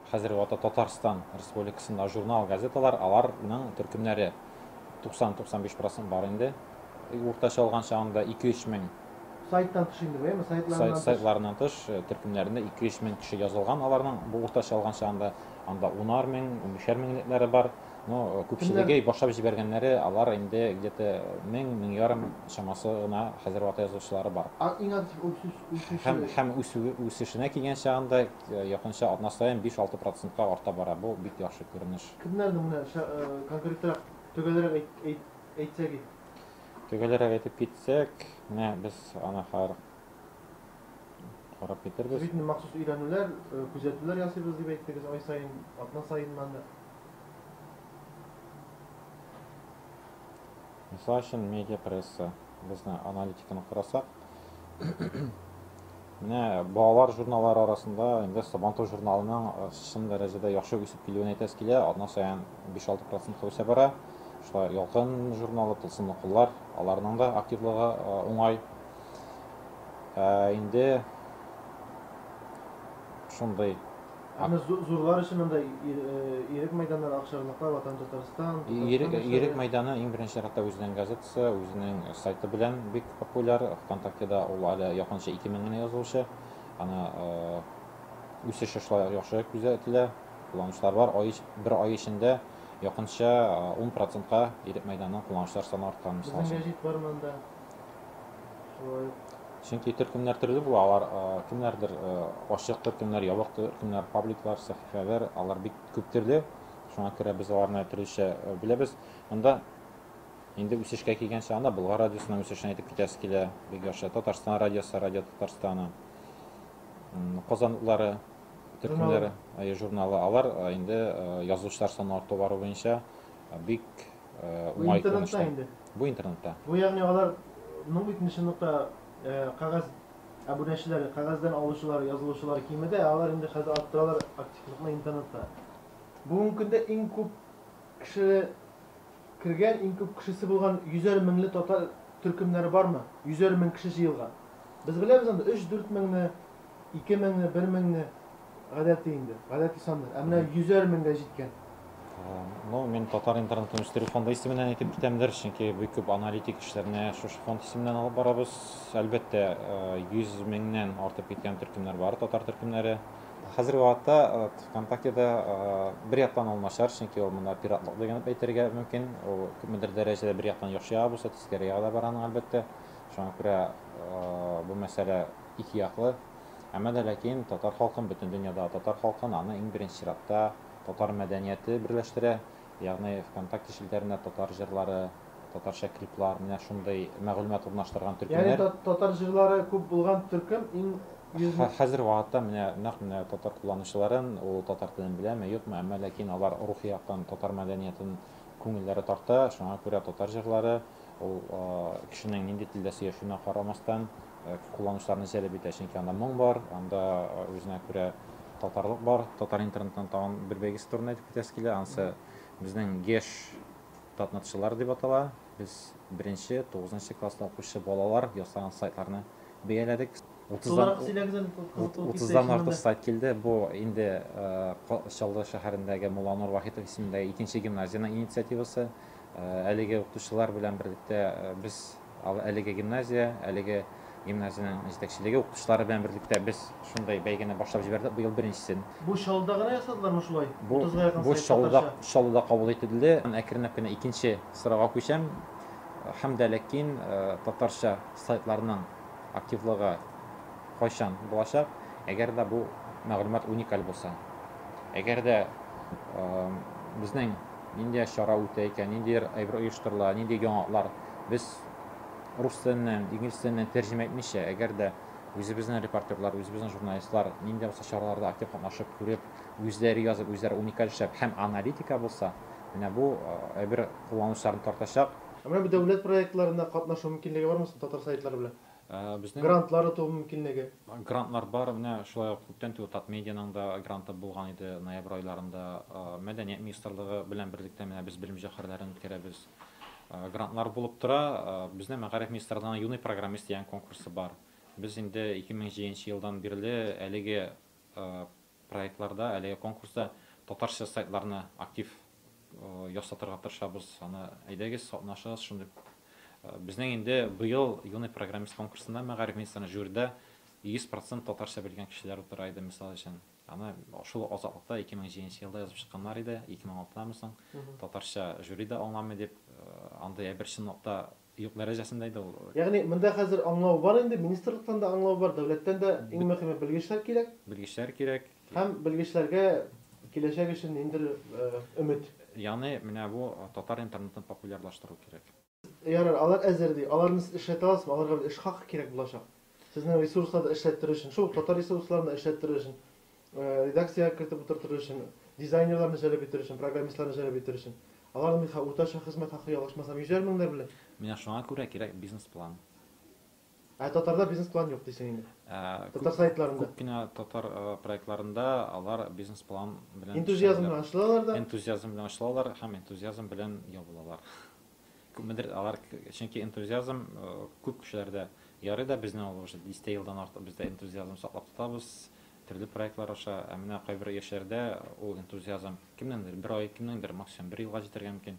Хәзерге вакытта Татарстан Республикасында журнал-газеталар, алар ның төркемнәре 90-95 процент бар инде, уртача алган чагында 2-3 мең, Сайттан тыш инде бу, әйме, сайтларыннан тыш. Сайтларыннан тыш, төркемнәрендә 2-3 мең кеше язылган аларның, бу уртача алган чагында, анда унар мең, унбишәр меңлекләре бар, но күпчелеге башлап җибәргәннәре, алар инде где-то мең, мең ярым чамасы гына хәзерге вакытта язучылары бар. Иң актив үсүче. Һәм үсү, үсешенә килгән чагында, Якынча атна саен биш-алты процентка арта бара, бу, бик яхшы күренеш. Кемнәрне, менә конкретрак, төгәлрәк әйтсәк иде? Төгәлрәк әйтеп китсәк, менә без аны хәзер карап китербез. Сез бит инде махсус өйрәнүләр, күзәтүләр ясыйбыз дип әйттегез, ай саен, атна саеннан да. Мисал өчен, медиапресса, безне аналитиканы карасак, менә балалар журналлары арасында инде Сабантуй журналының э, чын дәрәҗәдә яхшы үсеп килүен әйтәсе килә. Атна саен 5-6 процентка үсә бара. Шулай Ялкын журналы, Тылсымлы куллар, аларның да активлыгы э, уңай. Ә инде шундый Аны зурлар өчен монда ирек мәйданнар, акчарлаклар, Ватан Татарстан, Татарстан. Ирек мәйданы иң беренче чиратта үзенең газетасы, үзенең сайты белән бик популяр. ВКонтактеда ул әле якынча 2000 генә язылучы. Аны үсеше шулай яхшы күзәтелә. Кулланучылар бар. Ай, бер ай эчендә якынча 10 процентка ирек мәйданының кулланучылар саны арткан. Безнең гәҗит бар монда. Чөнки төркемнәр төрле була, алар кемнәрдер ачык төркемнәр, ябык төркемнәр, пабликлар, сәхифәләр, алар бик күп төрле. Шуңа күрә без аларны төрлечә беләбез. Монда инде үсешкә килгән чагында Болгар радиосының үсешен әйтеп китәсе килә. Бик яхшы. Татарстан радиосы, Радио Татарстаны, Казанлылары төркемнәре, журналы. Алар инде язучылар саны арту бару буенча бик Бу интернетта инде. Бу интернетта. Бу ягъни алар ну бит ничынлыкта кагаз абунәчеләре, кагаздан алучылар, язылучылар кимеде, алар инде хәзер арттыралар активлыкны интернетта. Бүгенге көндә иң күп кеше кергән, иң күп кешесе булган йөзәр меңле татар төркемнәре бармы? Йөзәр мең кеше җыелган. Без беләбез анда 3-4 меңне Ике меңне, бер меңне гадәти инде, гадәти саннар. Ә менә йөзәр меңгә җиткән. Э, ну, мин татар интернетын үстерү фонды исеменнән әйтеп китәмдер, чөнки бик күп аналитик эшләрне шушы фонд исеменнән алып барабыз. Әлбәттә, 100 э, меңнән артып киткән төркемнәр бар, татар төркемнәре. Хәзерге вакытта э, ВКонтактеда бер яктан ул начар, чөнки ул монда пиратлык дигән әйтергә мөмкин. Ул күпмедер дәрәҗәдә бер яктан яхшы яга булса, тискәре яга да бара аның әлбәттә. Шуңа күрә бу мәсьәлә икеяклы, әмма дә ләкин татар халкын бөтен дөньяда, татар халкын аны иң беренче чиратта татар мәдәнияте берләштерә, ягъни Вконтакте челтәренә татар җырлары, татарча клиплар, менә шундый мәгълүмат урнаштырган Ягъни төркемнәр. татар җырлары күп булган төркем иң йөз Хә хәзерге вакытта менә нәкъ менә татар кулланучыларын, ул татар телен беләме, юкмы, әмма ләкин алар рухи яктан татар мәдәниятен күңелләре тарта, шуңа күрә татар җырлары ул кешенең нинди телдә сөйләшүенә карамастан, кулланучыларны җәлеп итә, чөнки анда моң бар, анда үзенә күрә татарлык бар. Татар интернетының тагын бер бәйгесе турында әйтеп китәсе килә, анысы безнең Геш татнетчылар дип атала. Без беренче, тугызынчы класслы укучы балалар ясаган сайтларны бәяләдек. Тулырак сөйләгез әле, кызыклы булып китте. Утыздан артык сайт килде. Бу инде Чаллы шәһәрендәге Мулланур Вахитов исемендәге икенче гимназиянең инициативасы. Әлеге укытучылар белән берлектә без әлеге гимназия, әлеге гимназиянең җитәкчелеге укытучылары белән берлектә без шундый бәйгене башлап җибәрдек быел беренчесен. Бу Чаллыда гына ясадылармы шулай? Бу, 30 га якын бу сайт Чаллыда, татарча. Чаллыда кабул ителде. Әкренләп кенә икенче сырага күчәм. Һәм дә ләкин татарча сайтларның активлыгы, кайчан булачак, әгәр дә бу мәгълүмат уникаль булса. Әгәр дә безнең нинди чара үтә икән, нинди әйбер оештырыла, нинди яңалыклар без рус теленнән, инглиз теленнән тәрҗемә итмичә, әгәр дә үзебезнең репортерлар, үзебезнең журналистлар нинди булса чараларда актив катнашып, күреп, үзләре язып, үзләре уникаль эшләп һәм аналитика булса, менә бу әйбер кулланучыларны тартачак. Ә менә бу дәүләт проектларына катнашу мөмкинлеге бармы соң татар сайтлары белән? Грантлар оту мөмкинлеге. Грантлар бар, менә шулай ук күптән түгел Татмедианың да гранты булган иде, ноябрь айларында Мәдәният министрлыгы белән берлектә менә без белем җәүһәрләрен үткәрәбез. Грантлар булып тора, безнең Мәгариф министрлыгының Юный программист дигән конкурсы бар. Без инде 2007 елдан бирле әлеге проектларда, әлеге конкурста татарча сайтларны актив ясатырга тырышабыз. Аны әйдәгез, катнашыгыз шундый. Безнең инде быел Юный программист конкурсында мәгариф министрының жюрида 100 процент татарча белгән кешеләр утыра иде, мисал өчен. Аны шул азатлыкта 2007 елда язып чыкканнар иде, 2006 дан соң татарча жюри да аңламый дип, андый әйбер чынлыкта Юк дәрәҗәсендә иде ул. Ягъни, монда хәзер аңлау бар инде, министрлыктан да аңлау бар, дәүләттән дә, иң мөхиме, белгечләр кирәк. Белгечләр кирәк. Һәм белгечләргә киләчәк өчен ниндидер өмет. Ягъни, менә бу татар интернетын популярлаштыру кирәк. Ярар, алар әзер ди. Аларны сез эшләтә аласызмы? Аларга бит эш хакы кирәк булачак. Сезнең ресурсларда эшләттерү өчен, шул ук татар ресурсларында эшләттерү өчен Редакциягә кертеп утыртыр өчен, дизайнерларны җәлеп итер өчен, программистларны җәлеп итер өчен. Аларның уртача хезмәт хакы, ялгышмасам, йөзәр меңнәр белән. Менә шуңа күрә кирәк бизнес-план. Ә татарда бизнес-план юк дисең инде. Татар сайтларында. Күп кенә татар проектларында алар бизнес-план белән эшләмиләр. Энтузиазм белән ачылалар да. Энтузиазм белән ачылалар һәм энтузиазм белән ябылалар. Күпмедер алар, чөнки энтузиазм күп кешеләрдә ярый да, безне ул уже дистә елдан артык без дә энтузиазм саклап тотабыз, төрле проектлар аша. Ә менә кайбер яшьләрдә ул энтузиазм кемнеңдер бер ай, кемнеңдер максимум бер елга җитәргә мөмкин.